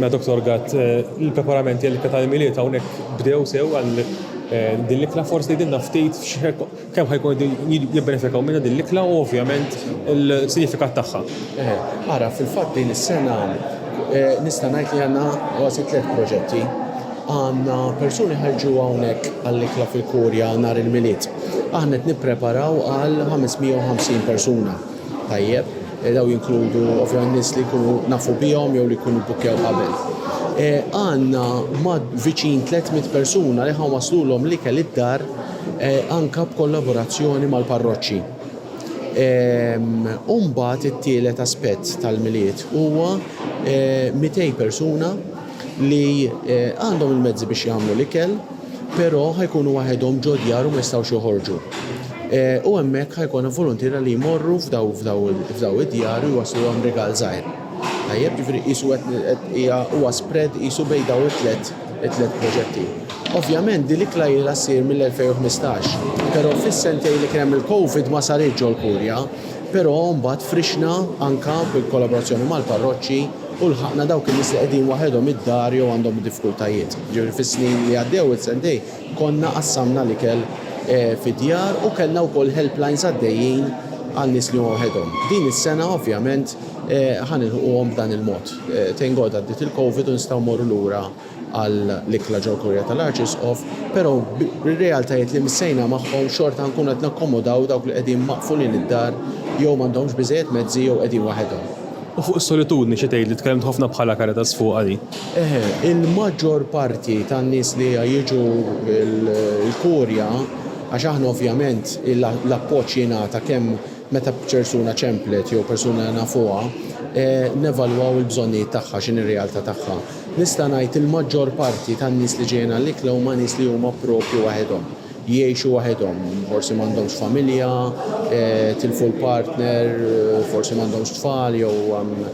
Mela Doctor Gatt, il-preparamenti għall-ikla tal-Milied hawnhekk bdew sew għal din l-ikla, forsi tgħidilna ftit kemm ħa jkunu qegħdin jibbenefikaw minnha din l-ikla u ovvjament il-sinifikat tagħha. Ara, fil-fatt din is-sena nista' ngħid li għandna kważi tliet proġetti. Għandna persuni ħa jiġu hawnhekk għall-ikla fil-Kurja nhar il-Milied. Aħna qed nippreparaw għal 550 persuna. tajjeb, daw jinkludu ovvjament nies li jkunu nafu bihom jew li jkunu bukkew qabel. E, għanna mad viċin 300 persuna li ħan waslulhom li kell id-dar e, anka b'kollaborazzjoni mal-parroċċi. E, Umbat it-tielet aspett tal-miliet huwa 200 persuna li għandhom il-mezzi biex jagħmlu l-ikel, però ħajkunu waħedhom ġo djar u ma jistgħux joħorġu. U hemmhekk ħajkun voluntiera li jmorru f'daw f'daw id-djar u jwaslulhom rigal żgħir. Tajjeb, ġifieri qisu qed hija huwa spread qisu bejn daw it-tlet it-tlet proġetti. Ovvjament din l-ikla ilha ssir mill-2015, però fis-sentejn li kien hemm il-COVID ma saritx ġol-Kurja, però mbagħad frixna anka bil-kollaborazzjoni mal-parroċċi u lħaqna dawk in-nies li qegħdin waħedhom id-dar jew għandhom diffkultajiet. Jiġifieri fis-snin li għaddew is-sentejn konna qassamna l-ikel fid-djar u kellna wkoll helplines għaddejjin għal nies li huma waħedhom. Din is-sena ovvjament ħa nilħquhom b'dan il-mod. Thank God għaddiet il-Covid u nistgħu mmorru lura għal l-ikla ġol-kurja tal-Arċisqof, pero' bir-realtajiet li missejna magħhom xorta nkunu qed nakkomodaw dawk li qegħdin maqfulin id-dar jew m'għandhomx biżejjed mezzi jew qegħdin waħedhom. U fuq is-solitudni xi tgħidli? Tkellimt ħafna bħala Caritas fuqha din. Eħe, il-maġġor parti tan-nies li jiġu l-kurja, għax aħna ovvjament l-appoġġ jingħata kemm meta persuna ċemplet jew persuna li nafuha, nevalwaw il-bżonnijiet tagħha x'inhi r-realta' tagħha. Nista' ngħid il-maġġor parti tan-nies li ġejjin għall-ikla huma nies li huma proprju waħedhom. Jgħixu waħedhom, forsi m'għandhomx familja, tilfu l-partner, forsi m'għandhomx tfal jew hemm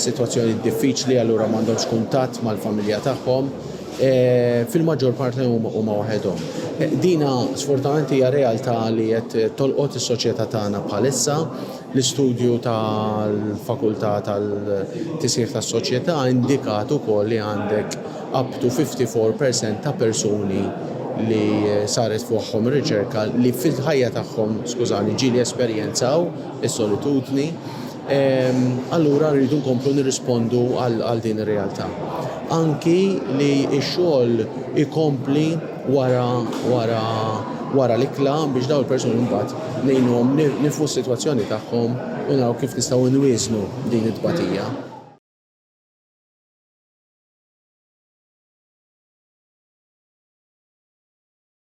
sitwazzjonijiet diffiċli allura m'għandhomx kuntatt mal-familja tagħhom. Fil-maġġor parti huma waħedhom. Dina sfortunatament hija realtà li qed tolqot is-soċjetà tagħna bħalissa. L-istudju tal-Fakultà tal-Tisħiħ tas-Soċjetà indikat ukoll li għandek up to 54 per cent ta' persuni li saret fuqhom riċerka li fil-ħajja tagħhom, skużani, ġieli esperjenzaw is-solitudni. Allura rridu nkomplu nirrispondu għal din ir-realtà. Anki li x-xogħol ikompli. wara wara wara l-ikla biex dawn il-persuni mbagħad ngħinuhom nifhmu s-sitwazzjoni tagħhom u naraw kif nistgħu nwieżnu din it-tbatija.